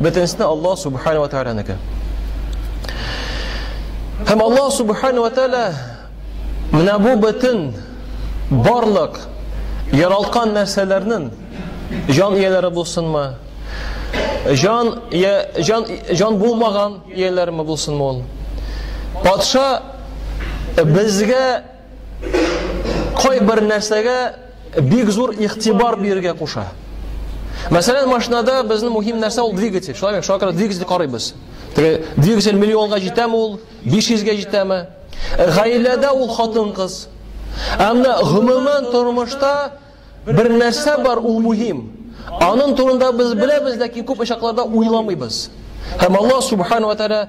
Бөтенесенә Аллаһ Субхану ва Тәгаләнеке. Һәм Аллаһ Субхану ва Тәгалә менә бу бөтен барлык яралткан нәрсәләрнең җан ияләре булсынмы, җан җан җан булмаган ияләрме булсынмы ул? Патша безгә кайбер нәрсәгә бик зур игътибар бирергә куша. Мәсәлән, машинада безнең мөһим нәрсә ул двигатель. Шулай микән? Шуңа күрә двигатель карыйбыз. Теге двигатель миллионга җитәме ул? 500 гә җитәме? Э, гаиләдә ул хатын-кыз. Әмма гомумән тормышта бер нәрсә бар, ул мөһим. Аның турында без беләбез, ләкин күп очакларда уйламыйбыз. Һәм Аллаһ субхану ва тааля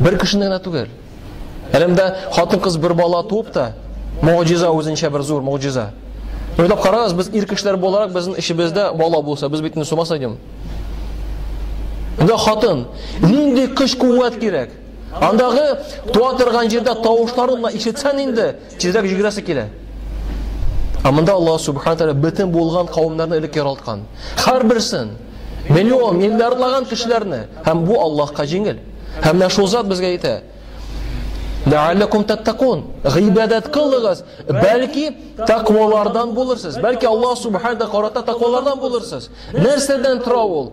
Бер кешене генә түгел. Әлемдә хатын-кыз бер бала туып та, могҗиза үзенчә бер зур могҗиза. Уйлап карагыз, без ир кешеләр буларак безнең эшебездә бала булса, без бит инде сумас идем. Анда хатын, нинди көч-куәт кирәк? Андагы туа торган җирдә тавышларын ишетсән инде, Тизрәк җигрәсе килә. Ә монда Аллаһ Субхану Тәгалә бөтен булган кавымнарны элек яралткан. Һәрберсен миллион, миллиардлаган кешеләрне һәм бу Аллаһка җиңел. Һәм менә шул зат безгә әйтә. Ләаллакум таттакун. Гыйбадәт кылыгыз, бәлки тәкъвалардан булырсыз. Бәлки Аллаһ Субхану Тәгалә карата тәкъвалардан булырсыз. Нәрсәдән тора ул?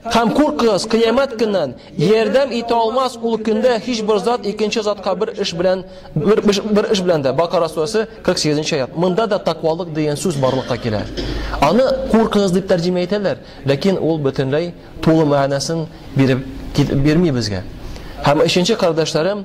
Һәм куркыгыз кыямәт көннән, ярдәм итә алмас ул көндә һичбер зат икенче затка бер эш белән бер, бер эш белән дә. Бакара сүрәсе 48 аят. Монда да таквалык дигән сүз барлыкка килә. Аны куркыгыз дип тәрҗемә итәләр, ләкин ул бөтенләй тулы мәгънәсен биреп бирми безгә. Һәм өченче кардәшләрем,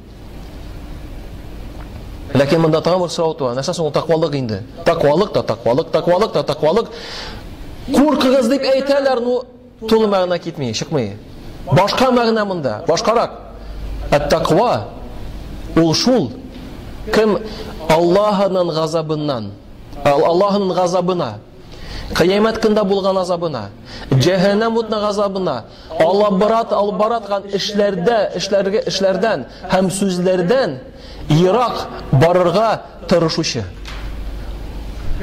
Ләкин монда тагын бер сорау туа. Нәрсә соң ул таквалык инде? Таквалык та таквалык, таквалык та таквалык. Куркыгыз дип әйтәләр, ну тулы мәгънә китми, чыкмый. Башка мәгънә монда, башкарак. Әт-таква ул шул кем Аллаһының газабыннан, Аллаһының газабына, Кыямәт көндә булган азабына, җәһәннәм утына газабына Алабрат албараткан эшләрдә, эшләргә эшләрдән һәм сүзләрдән ерак барырга тырышучы.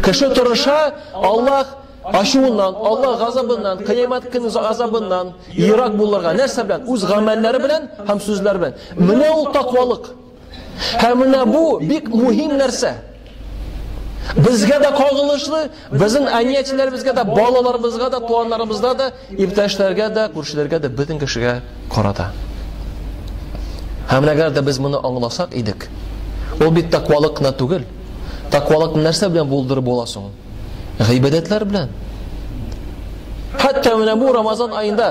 Кеше тырыша, Аллаһ ачуыннан, Аллаһ газабыннан, кыямәт көне газабыннан ерак булырга. Нәрсә белән? Үз гамәлләре белән һәм сүзләре белән. Менә ул таквалык. Һәм менә бу бик мөһим нәрсә. Безгә дә кагылышлы, безнең әниятчеләребезгә дә, балаларыбызга да, туганнарыбызга да, иптәшләргә дә, күршеләргә дә, бөтен кешегә карата. Һәм әгәр дә без моны аңласак идек, ул бит таквалык кына түгел. Таквалык нәрсә белән булдырып була соң? Гыйбадәтләр белән. Хәтта менә бу Рамазан аенда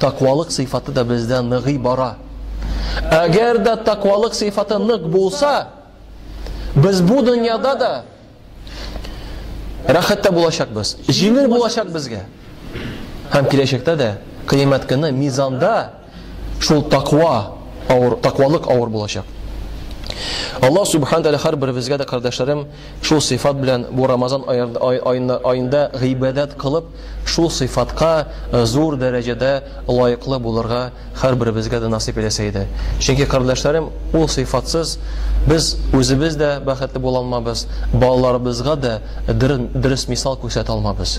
Таквалык сыйфаты да бездә ныгый бара. Әгәр дә таквалык сыйфаты нык булса, без бу дөньяда да рәхәттә булачакбыз. Җиңел булачак безгә. Һәм киләчәктә дә кыямәт көне мизанда шул таква авыр, таквалык авыр булачак. Аллаһ субхана тәгалә һәрберебезгә дә, кардәшләрем, Шул сыйфат белән бу Рамазан аенда гыйбадәт кылып, шул сыйфатка зур дәрәҗәдә лаеклы булырга һәрберебезгә дә насыйп итәсе иде. Чөнки, кардәшләрем, ул сыйфатсыз без үзебез дә бәхетле була алмабыз, балаларыбызга да дөрес мисал күрсәтә алмабыз.